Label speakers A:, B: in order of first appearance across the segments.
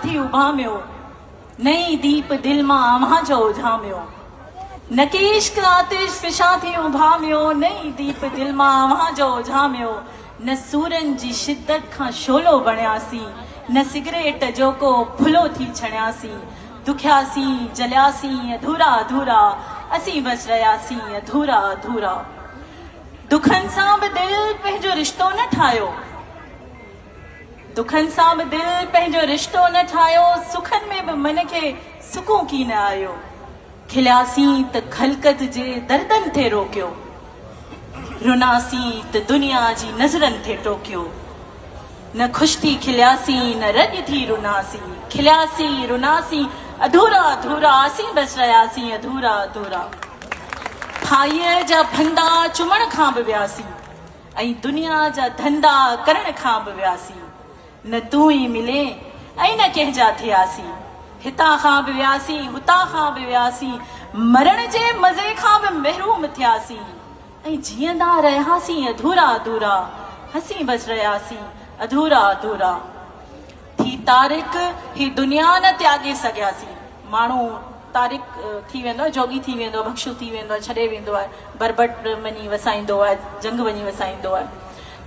A: ٿي اڀاميو، نئين ديپ دل مان آوهان جو اجهاميو، نڪي عشق آتش فشان ٿي اڀاميو، نئين ديپ دل مان آوهان جو اجهاميو، نه سورن جي شدت کان شعلو بڻياسين، نه سگريٽ جو ڪو ڦلو ٿي ڇڻياسين، دکياسين، جلياسين، اڌورا اڌورا، اسين بس رهياسين اڌورا اڌورا. دکن سان به دل پنهنجو رشتو نه ٺاهيو. دکن سان به دل پنهنجو رشتو نه ٺاهيو، سکن ۾ به من کي سڪون ڪي نه آيو، کلياسين ته خلقت جي دردن ٿي روڪيو، رناسين ته دنيا جي نظرن ٿي ٽوڪيو، نه خوش ٿي کلياسين نه رڄ ٿي رناسين، کلياسين رناسين اڌورا اڌورا اسين بس رهياسين اڌورا اڌورا، ڦاهيء جا ڦندا چمڻ کان به وياسين. ۽ دنيا جا ڌندا ڪرڻ کان به وياسين. نه تون ئي ملين ۽ نه ڪنهن جا ٿياسين. هتان کان به وياسين، هتان کان به وياسين. مرڻ جي مزي کان به محروم ٿياسين. ۽ جيئندا رهياسين اڌورا اڌورا. هسين بس رهياسين اڌورا اڌورا. ٿي تارڪ هي دنيا نه تياڳي سگهياسي ماڻهو تارڪ ٿي ويندو آهي جوڳي ٿي ويندو آهي ڀڪشو ٿي ويندو آهي ڇڏي ويندو آهي بربط وڃي وسائيندو آهي جهنگ وڃي وسائيندو آهي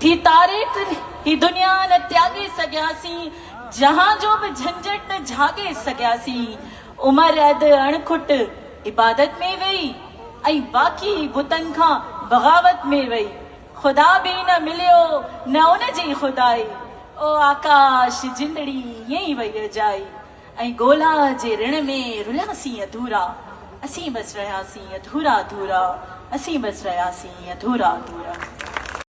A: ٿي تارڪ هي دنيا نه تياڳي سگهياسي جهان جو به جهنجهٽ نه جهاڳي سگهياسي عمر اڌ اڻ کٽ عبادت ۾ وئي ۽ باقي بتن کان بغاوت ۾ وئي خدا به نه مليو نه ان جي خدائي، او آڪاش جندڙي ائين ئي وئي اجائي، ۽ ڳولا جي رڻ ۾ رلياسين اڌورا، اسين بس رهياسين اڌورا اڌورا، اسين بس رهياسين اڌورا اڌورا.